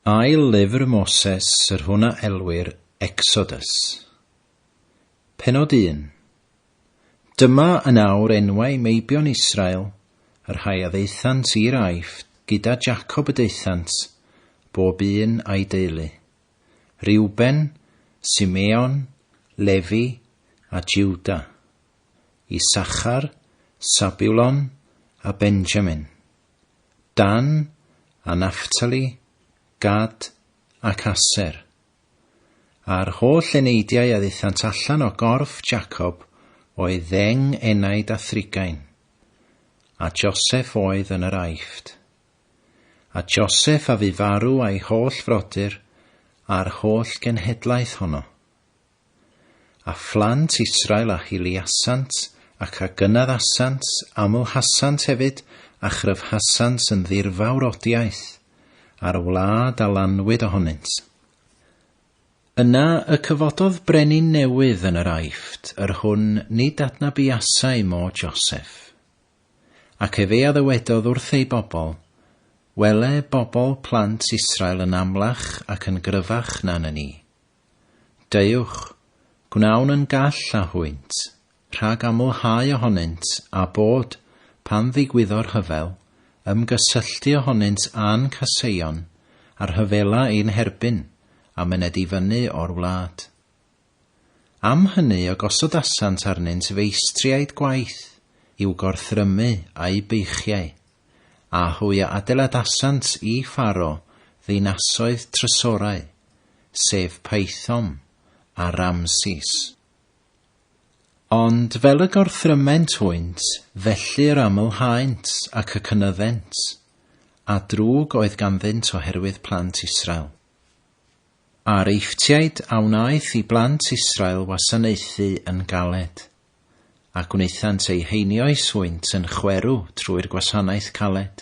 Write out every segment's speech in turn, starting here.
Ail lyfr Moses yr hwn a elwir Exodus. Pennod un. Dyma yn awr enwau meibion Israel, y rhai a ddaethant i'r Aifft gyda Jacob y daethant, bob un a'i deulu, Reuben, Simeon, Lefi, a Juda. Isachar, Sabulon, a Benjamin, Dan, a Naphtali, Gad, ac Aser. A'r holl eneidiau a ddithant allan o gorff Jacob oedd ddeng enaid a thrigain, a Joseph oedd yn yr Aifft. A Joseph a fu farw a'i holl frodyr a'r holl genhedlaeth honno. A phlant Israel a hiliasant, ac a gynaddasant, amlhasant hefyd, a chryfhasant yn ddirfawr odiaeth, a'r wlad a lanwyd ohonynt. Yna y cyfododd brenin newydd yn yr Aifft, yr hwn nid adnabuasai mo Joseff. Ac efe a ddywedodd wrth ei bobl, Wele bobl plant Israel yn amlach ac yn gryfach na na ni. Deuwch, gwnawn yn gall â hwynt, rhag amlhau ohonynt, a bod, pan ddigwyddo'r rhyfel, ymgysylltu ohonynt â'n caseion, a rhyfela ein herbyn, a myned i fyny o'r wlad. Am hynny y gosodasant arnynt feistriaid gwaith, i'w gorthrymu a'u beichiau. a hwy a adeiladasant i Pharo ddinasoedd trysorau, sef Paethom a Ramses. Ond fel y gorthryment hwynt, felly yr amlhaent ac y cynyddent, a drwg oedd ganddynt oherwydd plant Israel. A'r Eifftiaid a wnaeth i blant Israel wasanaethu yn galed. a gwnaethant eu heinio'u swynt yn chwerw trwy'r gwasanaeth caled,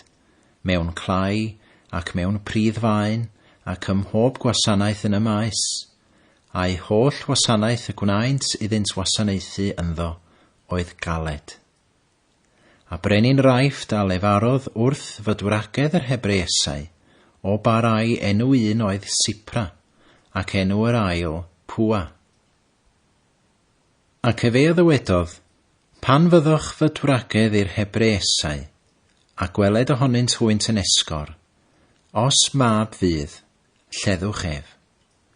mewn clai ac mewn pridd faen ac ym mhob gwasanaeth yn y maes, a'u holl wasanaeth y gwnaent iddynt wasanaethu ynddo oedd galed. A brenin Raifft a lefarodd wrth fydwragedd yr Hebreesau, o ba rai enw un oedd Sipra, ac enw yr ail Pua. Ac efe a ddywedodd, Pan fyddoch fyd wragedd i'r Hebreesau, a gweled ohonynt hwynt yn esgor, os mab fydd, lleddwch ef,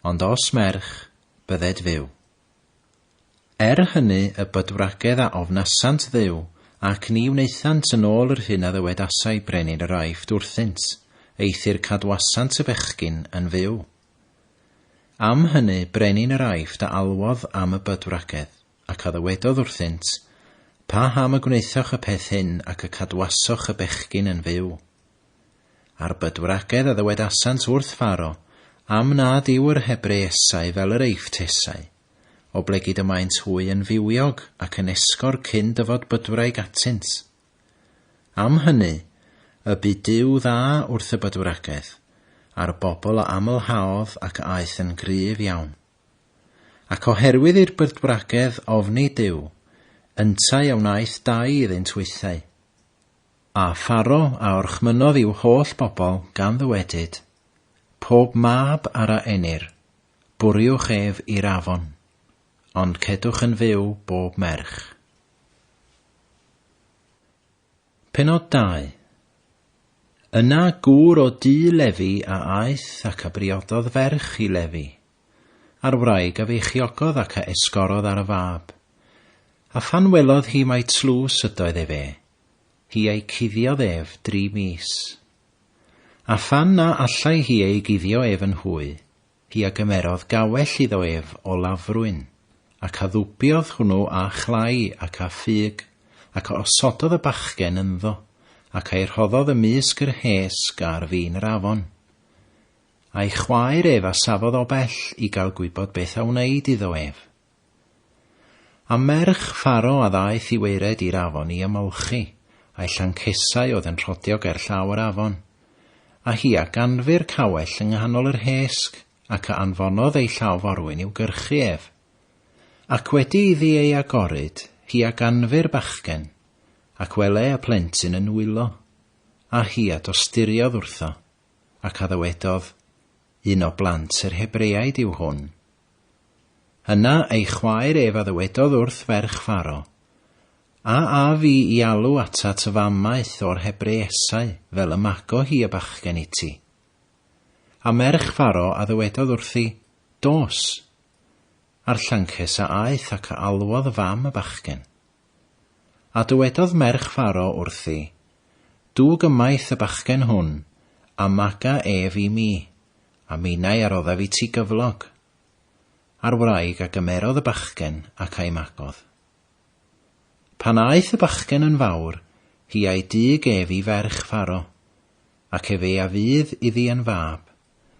ond os merch, bydded fyw. Er hynny y bydwragedd a ofnasant Dduw, ac ni wnaethant yn ôl yr hyn a ddywedasai brenin yr Aifft wrthynt, eithr cadwasant y bechgyn yn fyw. Am hynny brenin yr Aifft a alwodd am y bydwragedd, ac a ddywedodd wrthynt, Pa ham y gwnaethoch y peth hyn ac y cadwasoch y bechgyn yn fyw? A'r bydwragedd a ddywedasant wrth Pharo, Am nad yw yr Hebreesau fel yr Eiffttesau, oblegid y maent hwy yn fywiog ac yn esgor cyn dyfod bydwraig atynt. Am hynny, y bu Duw dda wrth y bydwragaeth, a'r bobl a amlhaodd ac aeth yn gryf iawn. Ac oherwydd i'r bydwragedd ofni Duw, yntau a wnaeth dau iddynt weithiau. A Pharo a orchmynnodd i'w holl bobl, gan ddywedyd, Pob mab ar a enir, bwriwch ef i'r afon, ond cedwch yn fyw bob merch. Pennod 2. Yna gŵr o du Lefi a aeth ac a briododd ferch i Lefi, a'r wraig a feichiogodd ac a esgorodd ar y fab. A phan welodd hi mai tlws ydoedd efe, hi a'i cuddiodd ef dri mis. A phan na allai hi ei guddio ef yn hwy, hi a gymerodd gawell iddo ef o lafrwyn, ac addwbiodd hwnnw â chlai ac â ffug, ac a osododd y bachgen ynddo, ac a'i rhoddodd ymysg yr hesg a'r fin yr afon. A'i chwaer ef a safodd o bell i gael gwybod beth a wneid iddo ef. A merch Pharo a ddaeth i waered i'r afon i ymolchi, a'i llancesau oedd yn rhodio ger llaw yr afon. A hi a ganfu'r cawell yng nghanol yr hesg, ac a anfonodd ei llaw forwyn i'w gyrchu ef. Ac wedi iddi ei agoryd, hi a ganfu'r bachgen, ac wele y plentyn yn nwylo, a hi a dosturiodd wrtho, ac a ddywedodd, Un o blant yr Hebreaid yw hwn. Yna ei chwaer ef a ddywedodd wrth ferch Pharo, A af i i alw atat y fam maeth o'r Hebreesau, fel y mago hi y bachgen iti. A merch Pharo a ddywedodd wrthi, Dos! A'r llancus a aeth ac a alwodd y fam y bachgen. A dywedodd merch Pharo wrthi, Dwg ymaith y bachgen hwn, a maga ef i mi, a minnau a roddaf i ti gyflog. A'r wraig a gymerodd y bachgen ac a'i magodd. Pan aeth y bachgen yn fawr, hi a'i dug ef i ferch Pharo, ac ef ei a fydd iddi yn fab,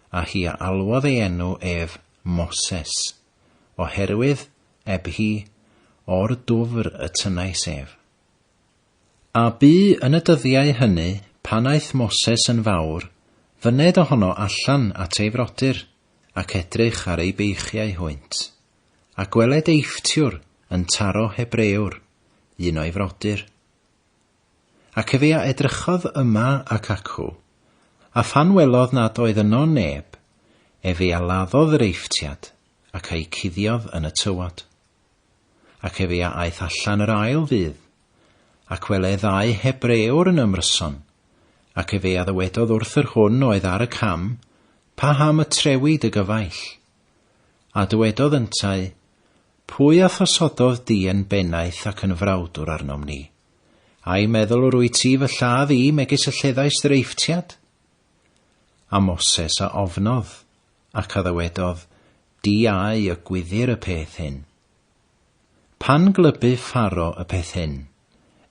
a hi a alwodd ei enw ef Moses, oherwydd eb hi o'r dwfr y tynnais ef. A bu yn y dyddiau hynny, pan aeth Moses yn fawr, fyned ohono allan at ei frodyr, ac edrych ar ei beichiau hwynt. A gweled eiftiwr yn taro Hebreür, un o'i frodyr. Ac efe a edrychodd yma ac acw, a phan welodd nad oedd yno neb, efe a laddodd yr eiftiad, ac a'i cuddiodd yn y tywod. Ac efe a aeth allan yr ail ddydd, ac wele ddau Hebreor yn ymryson, ac efe a ddywedodd wrth yr hwn oedd ar y cam, Pa ham y trewi dy gyfaill? A dywedodd yntau, Pwy a thosododd di yn bennaeth ac yn frawdwr arnom ni? Ai meddwl yr wyt ti fy lladd i megis y lleddais ddreifftiad? A Moses a ofnodd, Ac a ddywedodd, Di ai y gwyddir y peth hyn? Pan glybu Pharo y peth hyn,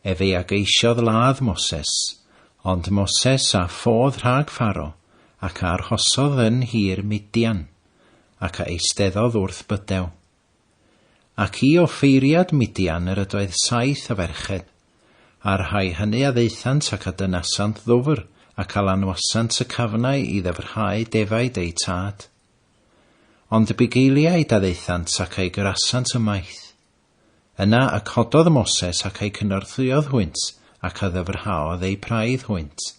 efe a geisiodd ladd Moses, ond Moses a ffodd rhag Pharo, ac a arhosodd yn nhir Midian, ac a eisteddodd wrth bydew. Ac i offeiriad Midian yr ydoedd saith o ferched, a'r rhai hynny a ddaethant ac a dynasant ddwfr, ac a lanwasant y cafnau i ddyfrhau defaid eu tad. Ond y bugeiliaid a ddaethant ac a'u gyrasant ymaith. Yna y cododd Moses ac a'u cynorthwyodd hwynt, ac a ddyfrhaodd eu praidd hwynt.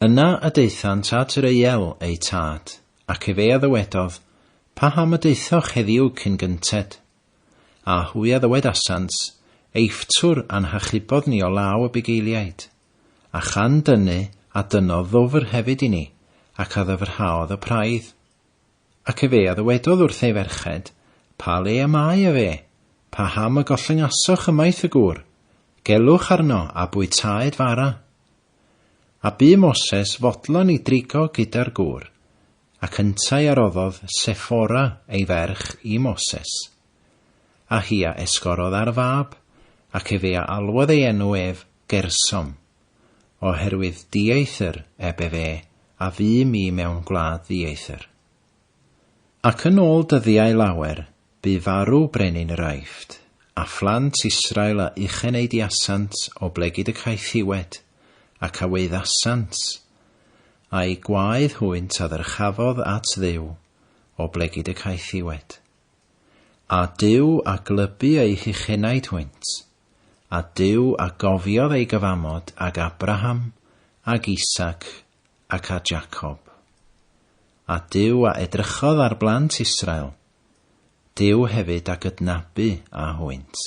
Yna a daethant at Reuel, eu tad, ac efe a ddywedodd, Paham y daethoch heddiw cyn gynted? A hwy a ddywedasant, Eifftiwr a'n hachubodd ni o law y bugeiliaid. A chan dynnu, a dynnodd ddwfr hefyd i ni, ac a ddyfrhaodd y praidd. Ac efe a ddywedodd wrth ei ferched, Pa le y mae efe? Pa ham y gollyngasoch ymaith y gŵr? Gelwch arno, a bwytaed fara. A bu Moses fodlon i drigo gyda'r gŵr, ac yntau a roddodd Sephora ei ferch i Moses. A hi a esgorodd ar fab, ac efe a alwodd ei enw ef Gersom, oherwydd dieithr ebe fe a fu mi mewn gwlad ddieithr. Ac yn ôl dyddiau lawer bu farw brenin yr Aifft, a phlant Israel a ucheneidiasant o blegid y caethiwed, ac a weuddasant, a'u gwaed hwynt a ddyrchafodd at Dduw, o blegid y caethiwed. A Duw a glybu eu huchenaid hwynt, A Duw a gofiodd ei gyfamod ag Abraham, ag Isaac, ac â Jacob. A Duw a edrychodd ar blant Israel, Duw hefyd a gydnabu â hwynt.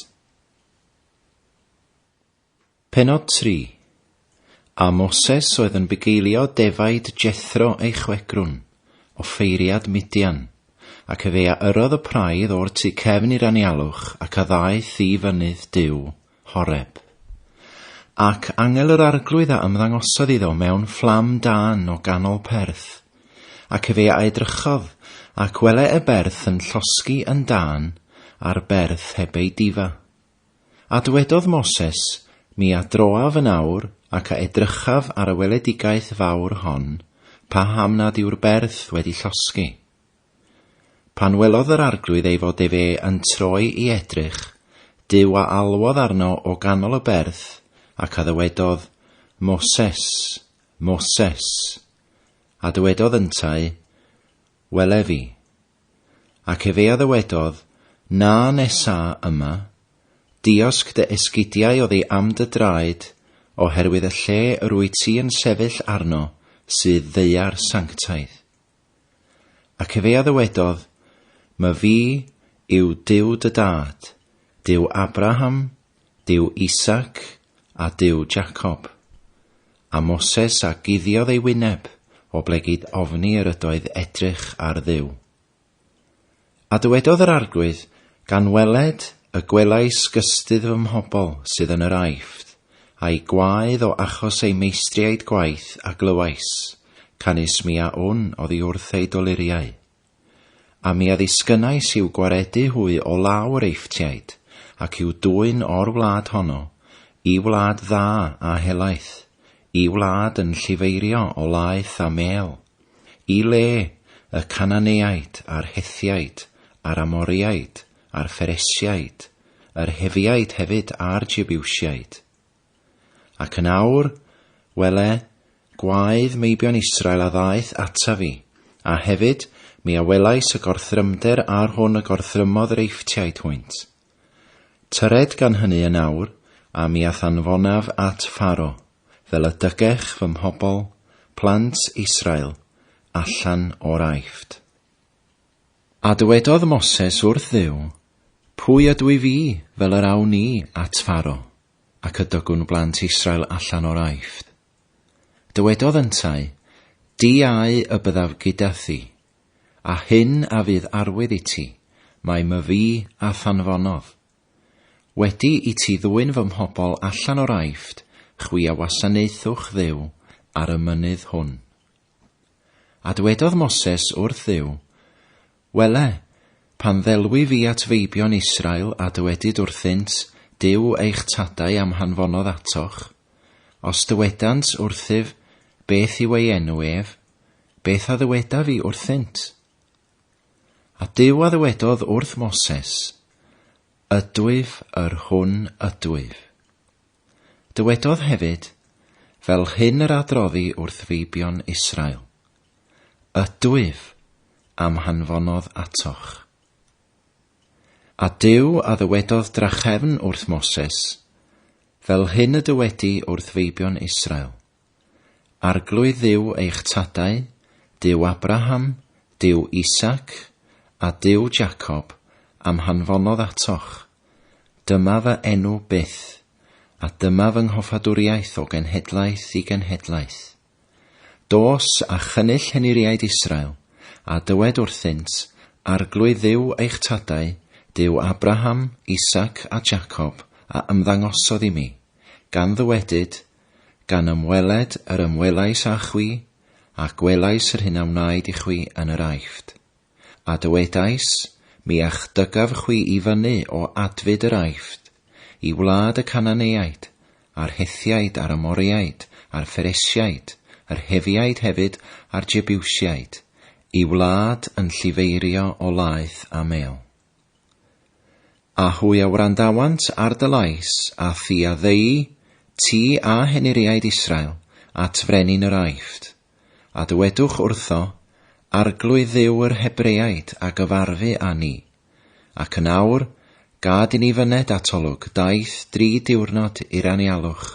Pennod tri, A Moses oedd yn bugeilio defaid Jethro ei chwegrwn, offeiriad Midian, ac efe a yrrodd y praidd o'r tu cefn i'r anialwch ac a ddaeth i fynydd Duw, Horeb. Ac angel yr Arglwydd a ymddangosodd iddo mewn fflam dân o ganol perth, ac efe a edrychodd, ac wele y berth yn llosgi yn dân ar berth heb ei difa. A dwedodd Moses, Mi adroaf yn awr, ac a edrychaf ar y weledigaeth fawr hon, paham nad yw'r berth wedi llosgi. Pan welodd yr arglwydd ei fod efe yn troi i edrych, Duw a alwodd arno o ganol y berth, ac a ddywedodd, Moses, Moses. A dywedodd yntau, Wele fi. Ac efe a ddywedodd, Na nesa yma, diosg dy esgidiau oddi am dy draed, oherwydd y lle yr wyt ti yn sefyll arno sydd ddeuar sanctaidd. Ac efe a ddywedodd, My fi yw Duw dy dad, Duw Abraham, Duw Isaac, a Duw Jacob. A Moses a guddiodd ei wyneb, o blegid ofni yr ydoedd edrych ar Dduw. A dywedodd yr Arglwydd, Gan weled y gwelais gystudd fy mhobl sydd yn yr Aifft, a'u gwaedd o achos eu meistriaid gwaith a glywais, canys mi a wn oddi wrth eu doluriau. A mi a ddisgynnais i'w gwaredu hwy o law yr Eifftiaid, ac i'w dwyn o'r wlad honno, i wlad dda a helaeth, i wlad yn llifeirio o laeth a mêl, i le, y Cananeaid, a'r Hethiaid, a'r Amoriaid, a'r Pheresiaid, yr Hefiaid hefyd a'r Jebiwsiaid. Ac yn awr, wele, gwaedd meibion Israel a ddaeth ataf fi, a hefyd, mi a welais y gorthrymder ar hwn y gorthrymodd yr Eifftiaid hwynt. Tyred gan hyny yn awr, a mi a thanfonaf at Pharo, fel y dygech fy mhobl, plant Israel, allan o'r Aifft. A dywedodd Moses wrth Dduw, Pwy ydw i fi, fel yr awn ni at Pharo? Ac ydogwn blant Israel allan o'r Aifft. Dywedodd yntau, Di au y byddaf gyda thi, a hyn a fydd arwydd i ti, mai my fu a thanfonodd. Wedi i ti ddwyn fy mhobl allan o'r Aifft, chwi a wasanaethwch Dduw ar y mynydd hwn. A dywedodd Moses wrth Dduw, Wele, pan ddelwi fi at feibion Israel a dywedyd wrthynt, Duw eich tadau a'm hanfonodd atoch. Os dywedant wrthyf, Beth yw ei enw ef? beth a ddywedaf i wrthynt? A Duw a ddywedodd wrth Moses, Ydwyf yr hwn ydwyf. Dywedodd hefyd, Fel hyn yr adroddi wrth feibion Israel, Ydwyf a'm hanfonodd atoch. A Duw a ddywedodd drachefn wrth Moses, Fel hyn y dywedi wrth feibion Israel. Arglwydd Dduw eich tadau, Duw Abraham, Duw Isaac, a Duw Jacob, a'm hanfonodd atoch. Dyma fy enw byth, a dyma fy nghoffadwriaeth o genhedlaeth i genhedlaeth. Dos, a chynnull henuriaid Israel, a dywed wrthynt, Arglwydd Dduw eich tadau, Duw Abraham, Isaac, a Jacob, a ymddangosodd i mi, gan ddywedyd, Gan ymweled yr ymwelais â chwi, a gwelais yr hyn a wnaed i chwi yn yr Aifft. A dywedais, Mi a'ch dygaf chwi i fyny o adfyd yr Aifft, i wlad y Cananeaid, a'r Hethiaid, a'r Amoreaid, a'r Pheresiaid, yr Hefiaid hefyd, a'r Jebiwsiaid, i wlad yn llifeirio o laeth a mêl. A hwy a wrandawant ar dy lais, a thi a ddeu, ti a henuriaid Israel, at frenin yr Aifft. A dywedwch wrtho, Arglwydd Dduw yr Hebreaid a gyfarfu â ni. Ac yn awr, gad i ni fyned atolwg daith dri diwrnod i'r anialwch,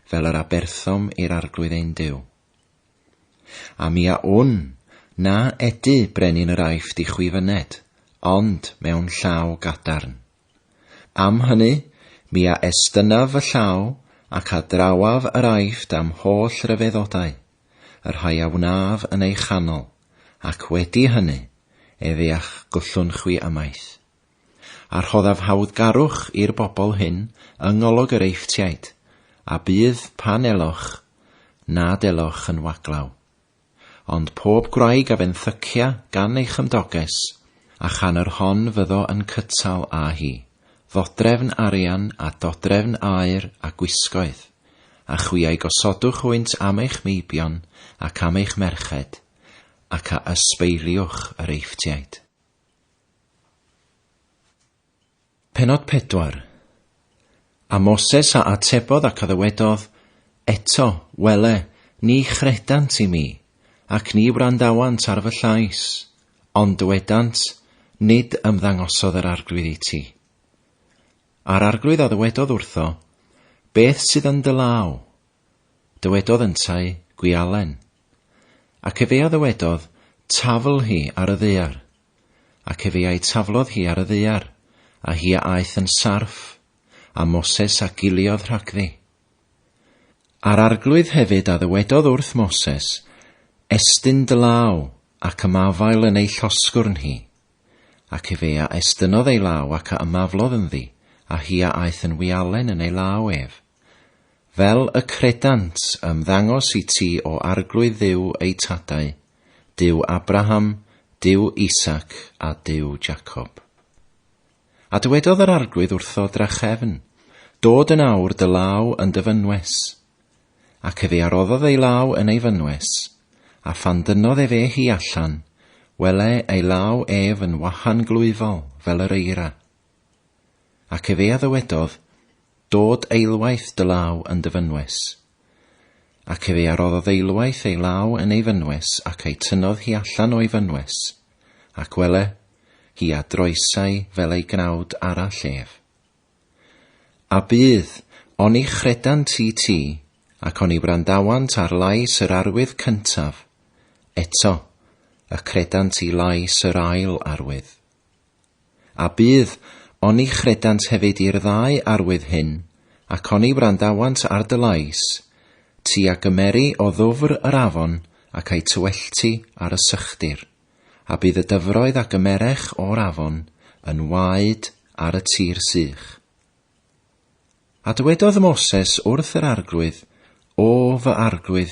fel yr aberthom i'r Arglwydd ein Duw. A mi a wn, na edu brenin yr Aifft i chwi fyned, ond mewn llaw gadarn. Am hynny, mi a estynnaf fy llaw ac a drawaf yr Aifft a'm holl ryfeddodau, y rhai a wnaf yn ei chanol, ac wedi hynny, ef ea'ch gwllwn chwi ymaith. A rhoddaf hawddgarwch i'r bobl hyn yng ngolwg yr Eifftiaid, a bydd, pan eloch, nad eloch yn waglaw. Ond pob gwraig a fenthycia gan ei chymdoges, a chan yr hon fyddo yn cytal â hi, ddodrefn arian a dodrefn aur a gwisgoedd, a chwi a'i gosodwch hwynt am eich meibion ac am eich merched, ac a ysbeiliwch yr Eifftiaid. Pennod 4 A Moses a atebodd ac a ddywedodd, Eto, wele, ni chredant i mi, ac ni wrandawant ar fy llais, ond dywedant, Nid ymddangosodd yr Arglwydd i ti. A'r Arglwydd a ddywedodd wrtho, Beth sydd yn dy law? Dywedodd yntau, Gwialen. Ac efe a ddywedodd, Tafl hi ar y ddaear. Ac efe a'i taflodd hi ar y ddaear, a hi a aeth yn sarff, a Moses a giliodd rhagddi. A'r Arglwydd hefyd a ddywedodd wrth Moses, Estyn dy law, ac ymafael yn ei llosgwrn hi. Ac efe a estynodd ei law ac a ymaflodd ynddi, a hi a aeth yn wialen yn ei law ef. Fel y credant, ymddangos i ti o Arglwydd Dduw eu tadau, Duw Abraham, Duw Isaac, a Duw Jacob. A dywedodd yr Arglwydd wrtho drachefn, Dod yn awr dy law yn dy fynwes. Ac efe aroddodd ei law yn ei fynwes, a phan dynodd efe hi allan, wele ei law ef yn wahan glwyfol fel yr eira, Ac efe a ddywedodd, Dod eilwaith dy law yn dy fynwes. Ac efe a roddodd eilwaith ei law yn ei fynwes ac a'i tynnodd hi allan o'i fynwes, ac wele, hi a droesai fel ei gnawd arall ef. A bydd, oni chredant i ti, ac oni wrandawant ar lais yr arwydd cyntaf, eto, y credant i lais yr ail arwydd. A bydd, oni chredant hefyd i'r ddau arwydd hyn, ac oni wrandawant ar dy lais, ti a gymeri o ddwfr yr afon ac a'i tywellti ar y sychdir, a bydd y dyfroedd a gymerech o'r afon yn waed ar y tir sych. A dywedodd Moses wrth yr arglwydd, O fy arglwydd,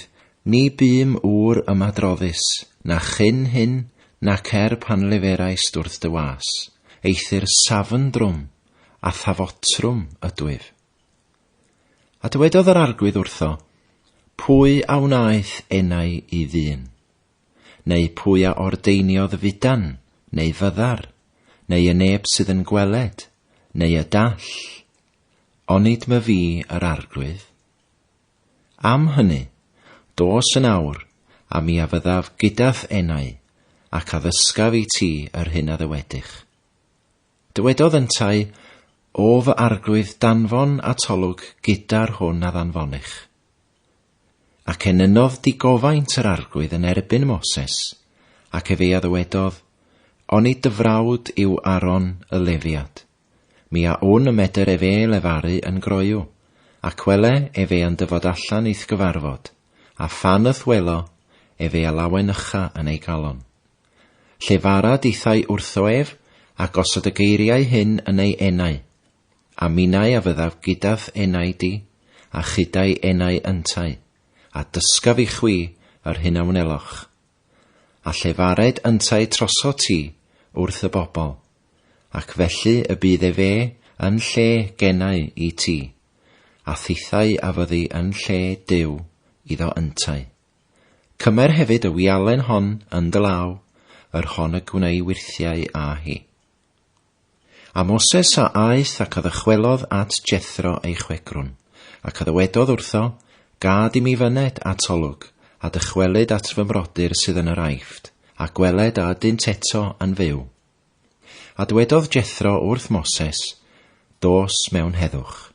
ni bûm ŵr ymadroddus, na chyn hyn, nac er pan leferais-d wrth dy was, eithr safn drwm, a thafotrwm ydwyf. A dywedodd yr arglwydd wrtho, Pwy a wnaeth enau i ddyn? Neu pwy a ordeiniodd y fudan, neu fyddar, neu y neb sydd yn gweled, neu y dall? Onid my fi yr arglwydd? Am hynny, dos yn awr, a mi a fyddaf gydath enau, ac a ddysgaf i ti yr hyn a ddywedych. Dywedodd yntau, O fy arglwydd danfon atolwg gyda'r hwn a ddanfonich. Ac enynodd digofaint yr arglwydd yn erbyn Moses, ac efe a ddywedodd, Oni dy frawd yw Aaron y Lefiad, mi a wn y medr efe lefaru yn groyw, ac wele efe yn dyfod allan i'th gyfarfod, a phan yth welo efe a lawen ycha yn ei galon. Llefara dithau wrtho ef, a gosod y geiriau hyn yn ei enau, A minnau a fyddaf gyda'th enau di, a chyda'i enau yntau, a dysgaf i chwi yr hyn a wneloch. A llefared yntau troso ti wrth y bobl, ac felly y bydd efe yn lle genau i ti, a thithau a fyddi yn lle Duw iddo yntau. Cymer hefyd y wialen hon yn dy law, yr hon y gwnei wirthiau â hi. A Moses a aeth ac a ddychwelodd at Jethro ei chwegrwn, ac a ddywedodd wrtho, Gad i mi fyned at olwg, a dychwelyd at fy mrodyr sydd yn yr Aifft, a gweled a ydynt eto yn fyw. A dwedodd Jethro wrth Moses, Dos mewn heddwch.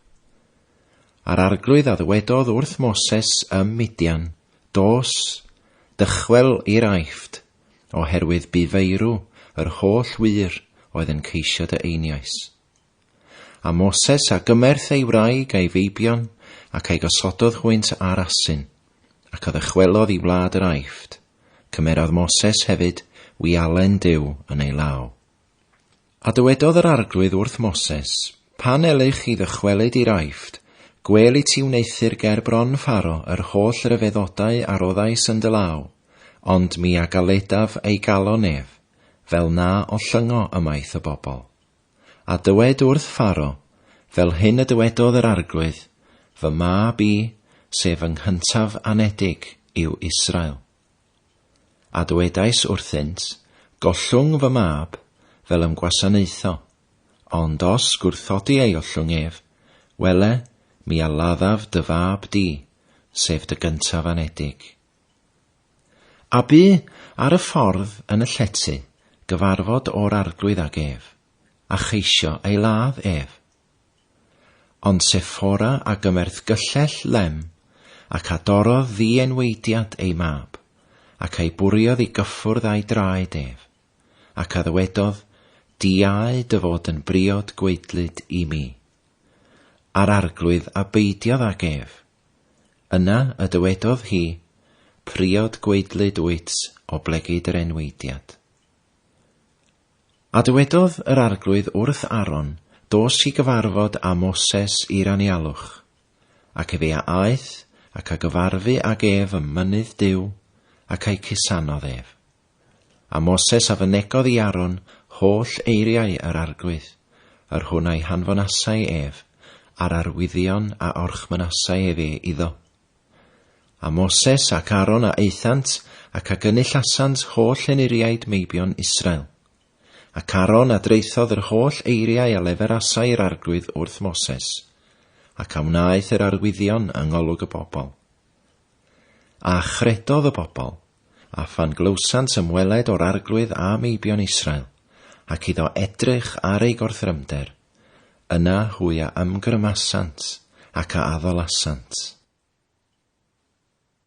A'r arglwydd a ddywedodd wrth Moses ym Midian, Dos, dychwel i'r Aifft, oherwydd bu feirw yr holl wŷr oedd yn ceisio dy einioes. A Moses a gymerth ei wraig a'i feibion, ac a'i gosododd hwynt ar asyn, ac a ddychwelodd i wlad yr Aifft, cymerodd Moses hefyd wialen Duw yn ei law. A dywedodd yr Arglwydd wrth Moses, Pan elych chi ddychwelyd i'r Aifft, gwêl i ti wneuthur ger bron Pharo yr holl ryfeddodau a roddais yn dy law, ond mi a galedaf ei galon ef, fel na ollyngo ymaith y bobl. A dywed wrth Pharo, Fel hyn y dywedodd yr Arglwydd, Fy mab i, sef fy nghyntaf anedig, yw Israel. A dywedais wrthynt, Gollwng fy mab, fel ym gwasanaetho, ond os gwrthodi ei ollwng ef, wele, mi a laddaf dy fab di, sef dy gyntaf anedig. A bu, ar y ffordd, yn y llety, gyfarfod o'r arglwydd ag ef, a cheisio ei ladd ef. Ond Sephora a gymerth gyllell lem, ac a dorrodd ddi-enwaediad ei mab, ac a'i bwriodd i gyffwrdd â'i draed ef, ac a ddywedodd, Diau dy fod yn briod gwaedlyd i mi. A'r arglwydd a beidiodd ag ef. Yna y dywedodd hi, Priod gwaedlyd wyt, oblegid yr enwaediad. A dywedodd yr Arglwydd wrth Aaron, Dos i gyfarfod â Moses i'r anialwch. Ac efe a aeth, ac a gyfarfu ag ef ym mynydd Duw, ac a'i cusanodd ef. A Moses a fynegodd i Aaron holl eiriau yr Arglwydd, yr hwn a'i hanfonasai ef, a'r arwyddion a orchmynasai efe iddo. A Moses ac Aaron a aethant, ac a gynullasant holl enuriaid meibion Israel. Ac Aaron a draethodd yr holl eiriau a leferasai yr arglwydd wrth Moses, ac a wnaeth yr arwyddion yng ngolwg y bobl. A chredodd y bobl, a phan glywsant ymweled o'r arglwydd a meibion Israel, ac iddo edrych ar ei gorthrymder, Yna hwy a ymgrymasant ac a addalasant.